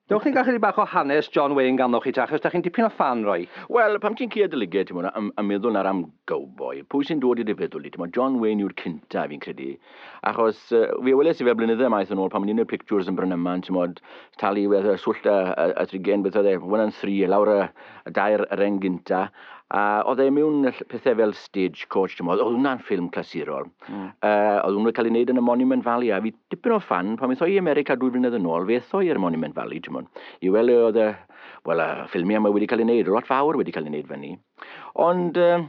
Dewch ni gael chydig bach o hanes John Wayne ganddoch chi ta, achos da chi'n dipyn o ffan roi. Wel, pam ti'n clywed y lygaid, ti'n mwyn, a meddwl na ram gowboi, pwy sy'n dod i dy feddwl di, ti'n mwyn, John Wayne yw'r cynta, fi'n credu. Achos, fi weles i fe blynydde maith yn ôl, pan o'n i'n y pictures yn Brynyman, ti'n mwyn, talu wedd y swllt a, a, a trigen, beth oedd e, one and three, lawr y, y dair reng gynta, a oedd e mewn pethau fel stage coach, ti'n mwyn, oedd hwnna'n ffilm clasurol. Mm. Uh, oedd hwnnw wedi cael ei wneud yn y Monument Valley, a fi dipyn o ffan, pan wnaethon i i America dwy flynedd yn ôl, fe ethon i'r Monument Valley, ti'n mwyn, i weld le oedd y, wel, y ffilmiau yma wedi cael ei wneud, lot fawr wedi cael ei wneud fyny. Ond, uh,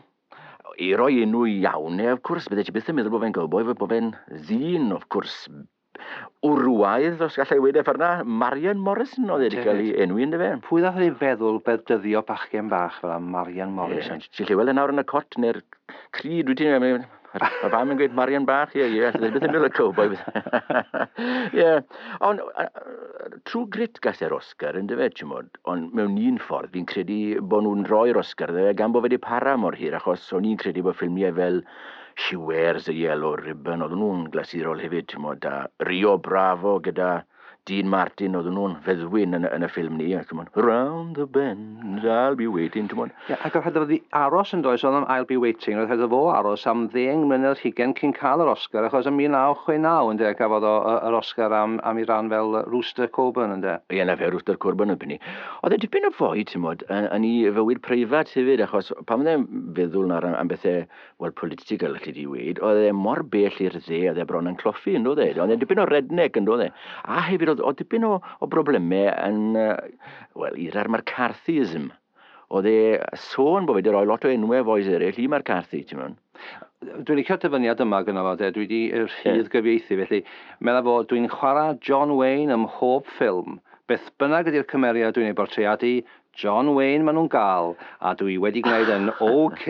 i roi enw iawn, neu, of course, bydde ti byth yn meddwl bod fe'n gowboi, bod fe'n ddyn, of course, Wrywaidd, os galla i weud e ffor 'na, Marian Morrison oedd e 'di cael ei enwi ynddo fe. Pwy ddath i feddwl beddyddio bachgen bach fel 'na, Marian Morrison? Ie, ti'n gallu weld e nawr yn y cot neu'r crud, wyt ti? Mae fam yn gweud Marian bach, ie, ie, allai byth yn meddwl y cowboi. Ie, ond trwy grit gas e'r Oscar, ynddo fe, ti'n modd, ond mewn un ffordd, fi'n credu bod nhw'n rhoi'r Oscar dde, gan bod fe wedi para mor hir, achos o'n i'n credu bod ffilmiau fel She wears a yellow ribbon, oedden nhw'n glasurol hefyd, timod, a Rio Bravo gyda Dean Martin, oedden nhw'n feddwyn yn, yn y ffilm ni, a timod, Round the bend, I'll be waiting, timod. Ie, yeah, ac oedd rhaid i aros yn does, oedd am I'll be waiting, oedd rhaid o fo aros am ddeng mlynedd rhigen cyn cael yr Oscar, achos yn 1969, ynde, gafodd o yr Oscar am, am i ran fel Rooster Coburn, ynde. Ie, yeah, na fe, Rooster Coburn yn penny. Oedd e dipyn o fwy, ti'n modd, yn, yn i fywyd preifat hefyd, achos pan fydde'n feddwl nawr am, am bethau Wel, political, allai di weid, oedd e mor bell i'r dde, oedd e bron yn cloffi, yn oedd e? Oedd e dipyn o redneg, yn oedd e? A hefyd, oedd, oedd dipyn o, o broblemau yn, uh, wel, i'r McCarthyism. Oedd e sôn bod wedi rhoi lot o enwau foes eraill i McCarthy, ti'n mynd? Dwi'n licio dyfyniad yma gyda fo, dwi wedi rhydd gyfieithu, felly meddwl fod dwi'n chwarae John Wayne ym mhob ffilm. Beth bynnag ydy'r cymeriad dwi'n ei bortreadu, John Wayne ma nhw'n gal a dw i wedi gwneud yn ok.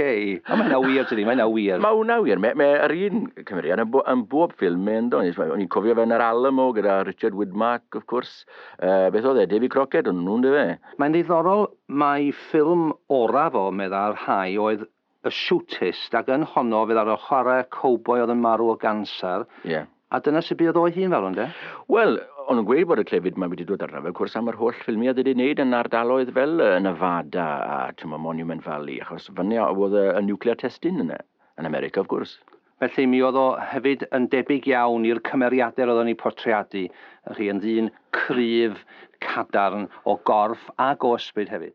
O mae hynna wir dydi, mae hynna wir. Mae hwnna wir, mae mae yr un cymeriad yn bo- yn bob ffilm mae ynddo, nes mae o'n i'n cofio fe yn yr Alamo gyda Richard Widmark wrth gwrs, yy beth oedd e, Davy Crockett o'n nhw yndyfe? Mae'n ddiddorol mai ffilm oraf o meddai'r rhai oedd y siwtist, ac yn honno fydd arno chwarae cowboi oedd yn marw o ganser, Ie. a dyna sut buodd o'i hun farw, ynde? Wel, o'n nhw'n gweud bod y clefyd 'ma wedi dod arno fe, wrth gwrs, am yr holl ffilmiau oedd wedi wneud yn ardaloedd fel yy Nevada a timod Monument Valley, achos fan 'na oedd y y nuclear testing yna, yn America, wrth gwrs. Felly, mi oedd o hefyd yn debyg iawn i'r cymeriadau roeddon ni portreadu, y'ch chi, yn ddyn cryf, cadarn, o gorff ac o ysbryd hefyd.